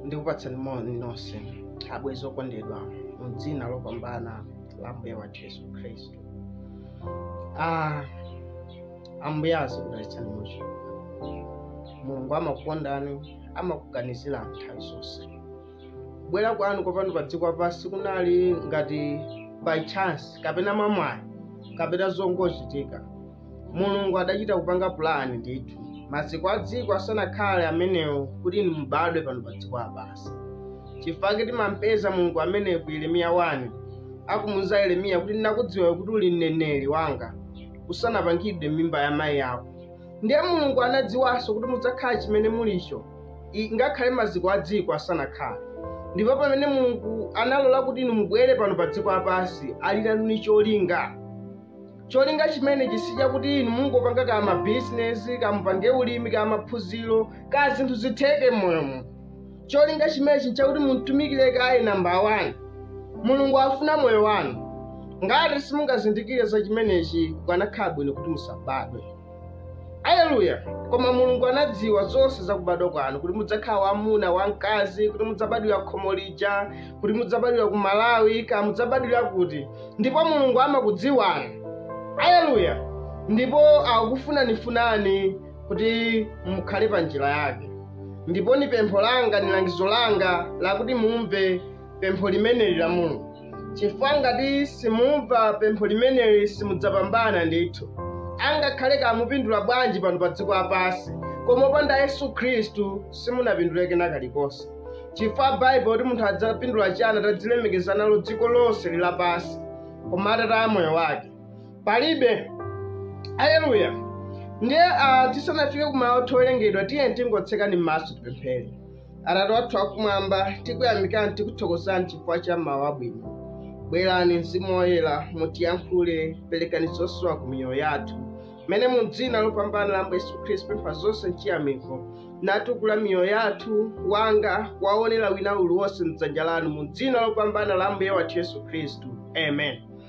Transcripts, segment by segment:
ndikupatsani moni nonse abwenzi okondedwa mu dzina lopambana la ambuye wathu yesu khristu Ah, ambuye azikudalitsani muchi mulungu amakukondani amakuganizirani nthawi zonse kubwera kwanu kwa pano pa dziko lapansi kunali ngati by chance kapena mwamwayi kapena zongochitika mulungu adachita kupanga pulani ndithu maziko a dziko asanakhale amenewo kuti inu mubadwe pano pa dziko lapansi chifukwa timampeza mulungu ameneyo ku yeremiya 1 akumuuza yeremiya kuti ndinakudziwa kuti uli mneneri wanga usanapangidwe m'mimba ya mayi ako ndiye mulungu anadziwanso kuti mudzakhala chimene mulicho i- ngakhale maziko a dziko asanakhale ndipo pamene mulungu analola kuti inu mubwere pano pa dziko lapansi ali nanu ni cholinga cholinga chimenechi si chakuti inu mungopanga ka mabizinesi kamupange ulimi ka maphunziro ka zinthu zitheke m'moyomo cholinga chimenechi nchakuti mumtumikire kaye namba wani mulungu afuna moyo wanu ngati simungazindikire za chimenechi kukanakhala bwino kuti musabadwe aleluya koma mulungu anadziwa zonse za kubadwa kwanu kuti mudzakhala wamuna wamkazi kuti mudzabadwira kukhomo lija kuti mudzabadwira ku malawi ka mudzabadwira kuti ndipo mulungu amakudziwani aleluya ndipo akufunanifunani kuti mukhale pa njira yake ndipo ni pempho langa ni langizo langa lakuti mumve pempho limeneli la mulungu chifukwa ngati simumva pempho limeneli simudzapambana ndithu angakhale kamupindula bwanji pano pa dziko lapansi koma opanda yesu khristu simunapindule kena kalikonse chifukwa baibulo kuti munthu adzapindula chani atadzilemekeza nalo dziko lonse lapansi koma atataya moyo wake palibe aleluya ndiye ah, tisanafike ku mau owerengedwa tiyeni tingotseka m'maso tipemphere atate wathu akumwamba tikuyamikani tikuthokozani chifukwa cha mawu abwino bwerani mzimu woyera mutiyankhule perekani zosowa ku miyoyo yathu mmene mu dzina lopambana la mbuye yesu khristu pempha zonse mchiyamiko natukula miyoyo yathu wanga wa owonera wina aliyense mdzanja lanu mu dzina lopambana la mbuye wathu yesu khristu amen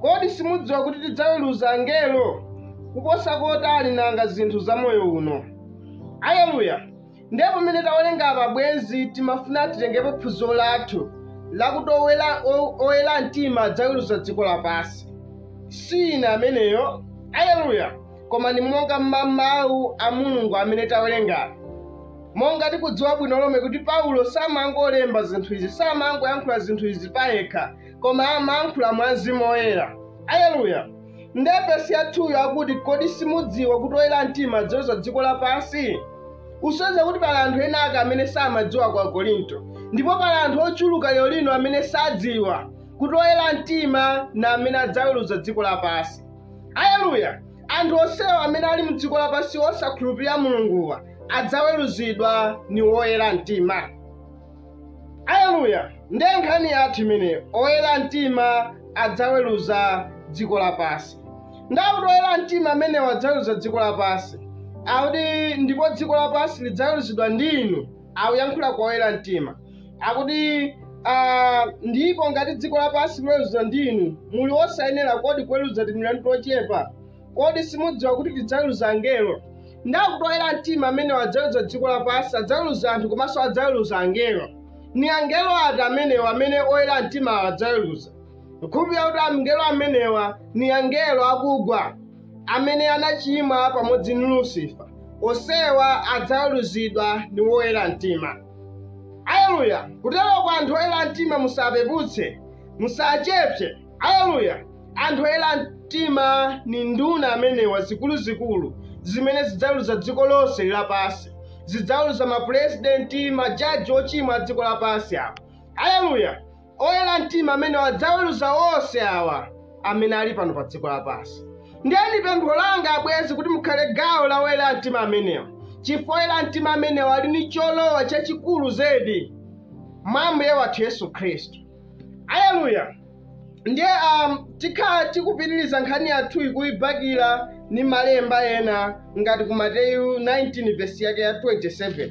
Kodi simudziwa kuti tidzaweruza angelo? Kuposa kotani nanga zinthu za moyo uno? Aleluya! Ndiye pamene tawerenga apa bwenzi timafuna titengepo phunziro lathu lakuti oyera mtima adzaweruza dziko lapansi. Si ine ameneyo. Aleluya! Koma ndi monga mma mawu a Mulungu amene tawerenga. monga tikudziwa bwino lomwe kuti paulo samangolemba zinthu izi samangoyankhula zinthu izi payekha koma amayankhula mwa mzimu woyera aleluya nde vesi ya 2 yo akuti kodi simudziwa kuti oyera mtima adzaweruza dziko lapansi usonyeza kuti pali anthu ena ake amene samadziwa kwa akorinto ndipo pali anthu ochuluka lero lino amene sadziwa kuti oyera mtima na amene adzaweruza dziko lapansi aleluya anthu onsewa amene ali mdziko lapansi osakhulupirira mulunguwa adzaweruzidwa ni woyera mtima Aleluya! Ndiye nkhani yathu imeneyo, oyera mtima adzaweruza dziko lapansi. Nde akuti oyera mtima amenewa adzaweruza dziko lapansi, akuti ndipo dziko lapansi lidzaweruzidwa ndi inu, akuyankhula kwa oyera mtima, akuti ah, ndipo ngati dziko lapansi liweruzidwa ndi inu, muli osayenera kodi kuweruza timilandu tochepa? Kodi simudziwa kuti tidzaweruza angelo? Nde akuti oyera mtima amenewa adzaweruza dziko lapansi, adzaweruza anthu komanso adzaweruza angelo. Ni angelo ati amenewa amene oyera mtimawa adzaweruza? Nkhulupirira kuti angelo amenewa ni angelo akugwa amene anachimwa pamodzi ndi Lusifa. Onsewa adzaweruzidwa ni woyera mtima. Aleluya! Kuteroko anthu oyera mtima musawapeputse, musawachepse. Aleluya! Anthu oyera mtima ni nduna amenewa zikulu-zikulu zimene zidzaweluza dziko lonse lapansi. Zidzaweluza mapulezidenti, majaji ocimwa a dziko lapansi awa. Aleluya! Oyera mtima amenewa adzaweluza onse awa amene ali pano pa dziko lapansi. Ndiye ni pempho langa abwenzi kuti mukhale gawo la oyera mtima amenewa, cifukwa oyera mtima amenewa ali ni colowa cacikulu zedi mwa Ambuye wathu Yesu Khristu. aleluya ndiye um, tikhala tikupitiriza nkhani yathu nkuyibakira ni malemba ena ngati ku mateyu 19 vesi yake ya 27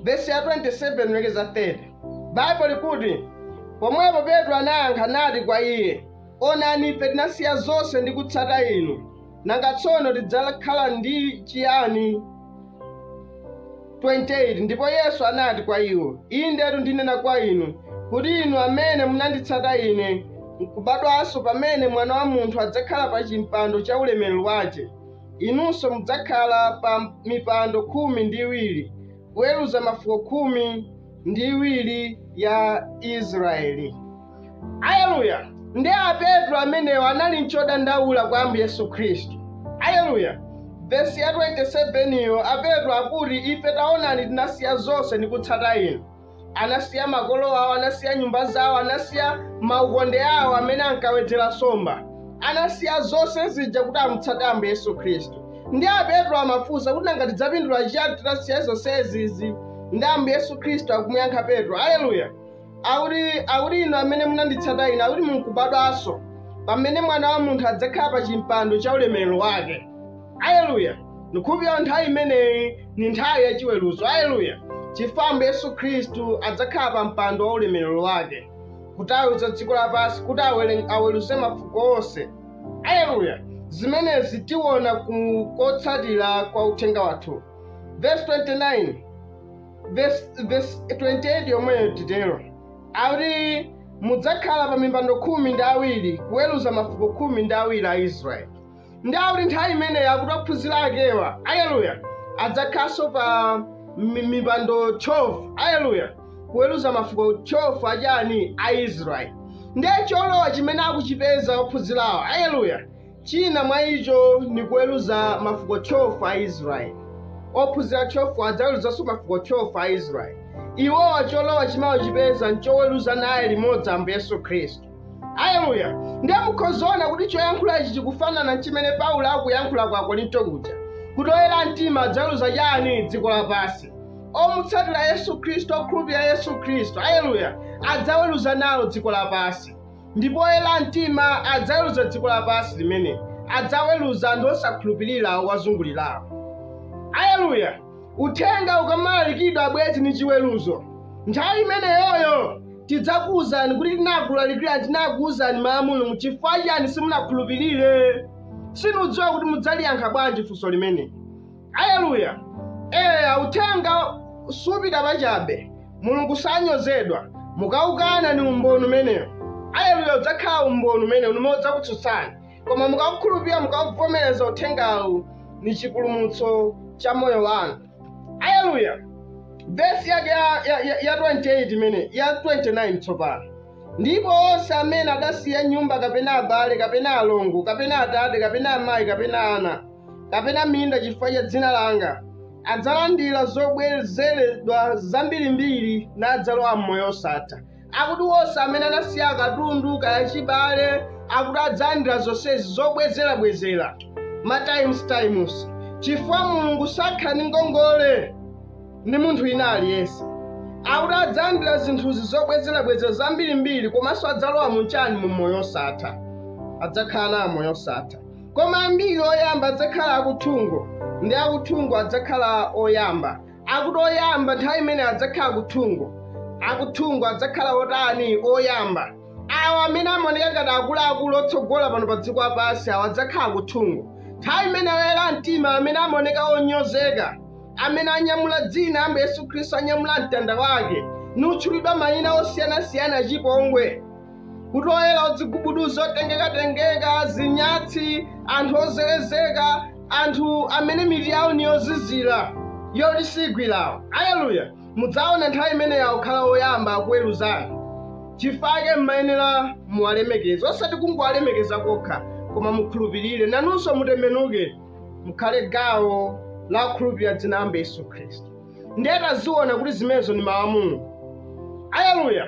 vesi ya 27 kulekeza 30 baibo likuti pomwepo petro anayankha nati kwa iye onani ife tinasiya zonse ndi kutsata inu Nanga tsono tidzakhala ndi chiyani? 28 ndipo Yesu anati kwa iwo, Indetu ndinena kwa inu, kuti inu amene munanditsata Ine, nkubadwanso pamene Mwana wa Munthu adzakhala pa chimpando cha ulemerero wace, inunso mudzakhala pa mipando khumi ndi iwiri, kuweruza mafuko khumi ndi iwiri ya Israeli. aleluya ndi a petro amenewo anali nchodandaula kwa ambuye yesu khristu aleluya vesi ya 27 iyo a petro akuti ife taonani tinasiya zonse ndi kutsata inu anasiya makolo awo anasiya nyumba zawo anasiya maukonde awo amene ankawedzera nsomba anasiya zonse zija kuti amutsate ambuye yesu khristu ndiye a petro amafunsa kuti nanga tidzapindula chiyani titasiya zonse izizi ndi ambuye yesu khristu akumuyankha petro aleluya akuti akuti inu amene munanditsata ine akuti mukubadwanso pamene mwana wa munthu adzakhala pa chimpando cha ulemerero wake aleluya ndikukhulupirira nthawi imeneyi ni nthawi ya chiweruzo aleluya chifukwa ambuye yesu khristu adzakhala pa mpando wa ulemerero wake kuti aweruze dziko lapansi kuti awere- aweruze mafuko onse aleluya zimenezi tiona ku kotsatira kwa uthenga wathu verse 29 verse verse 28 yomweyo titero akuti mudzakhala pa mipando khumi ndi awiri kuweruza mafuko khumi ndi awiri a israeli ndi akuti nthawi imeneyo akuti ophunzira akewa aleluya adzakhalanso pa mi- mipando 12 aleluya kuweruza mafuko 12 achani a israeli ndiye cholowa chimene akuchipeza ophunzirawo aleluya Cina mwa ico ni kuweluza mafuko 12 a Isiraeli. Ophunzila 12 adzaweluzanso mafuko 12 a Isiraeli. Iwowa colowa cimene akucipeza n'coweluza naye limodzi Ambuye Yesu Khristu. Aleluya! Ndiye mukhoza ona kuti coyankhula ici cikufanana n'cimene Paulo akuyankhula kwa Akorinto kuja, kuti oyela mtima adzaweluza cani? Dziko lapansi. Omutsatila Yesu Khristu, okhulupilila Yesu Khristu, aleluya, adzaweluza nawo dziko lapansi. Ndipo oyera mtima adzaweruza dziko lapansi limene adzaweruza anthu osakhulupirira owazungulirawo. Aleluya! Uthenga ukamalalikidwa abwenzi ndi chiweruzo, nthawi imeneyoyo tidzakuwuzani kuti tinakulalikirani tinakuwuzani mawu a Mulungu chifukwa chiyani simunakhulupirire. Sinidziwa kuti mudzaliyankha bwanji funso limeneli. aleluya eya uthenga supita pachabe mulungu sanyozedwa mukaukana ni umboni umenewo aleluya udzakhala umboni umenewo umene udzakutsutsani koma mukaukhulupirira mukauvomereza uthengawu ni chipulumutso cha moyo wanu aleluya vesi yake ya 28 imene ya 29 tsopano ndipo onse amene adasiya nyumba kapena abale kapena alongo kapena atate kapena amayi kapena ana kapena minda chifukwa cha dzina langa adzalandira zobwezeredwa zambirimbiri nadzalowa m'moyo osatha akuti onse amene anasiya katundu kaya chibale akuti adzalandira zonsezi zobwezerabwezera ma times times chifukwa mulungu sakhala ndi ngongole ndi munthu ina aliyense akuti adzalandira zinthuzi zobwezerabwezera zambirimbiri komanso adzalowa mu chani mu moyo osatha adzakhala nawo moyo osatha koma ambiri oyamba adzakhala akuthungo ndi akuthungo adzakhala oyamba akuti oyamba nthawi imene adzakhala kuthungo akuthungo adzakhala otani oyamba awo amene amaoneka ngati akuluakulu otsogola pano pa dziko lapansi awo adzakhala kuthungo nthawi imene oyera mtima amene amaoneka onyozeka amene anyamula dzina la ambuye yesu khristu anyamula mtanda wake nutchulidwa mayina osiyanasiyana achipongwe kuti oyera odzigubuduza otengekatengeka zinyatsi anthu ozelezeka anthu amene mitu yawo ni yozizira yoti sigwirawo aleluya mudzaona nthawi imeneyo akukhala oyamba akuweruzani chifukwa chake mmayenera muwalemekeza osati kungowalemekeza kokha koma mukhulupirire nanunso mutembenuke mukhale gawo la kukhulupirira dzina la ambuye yesu khristu ndiye taziona kuti zimenezo ni mawu a mulungu aleluya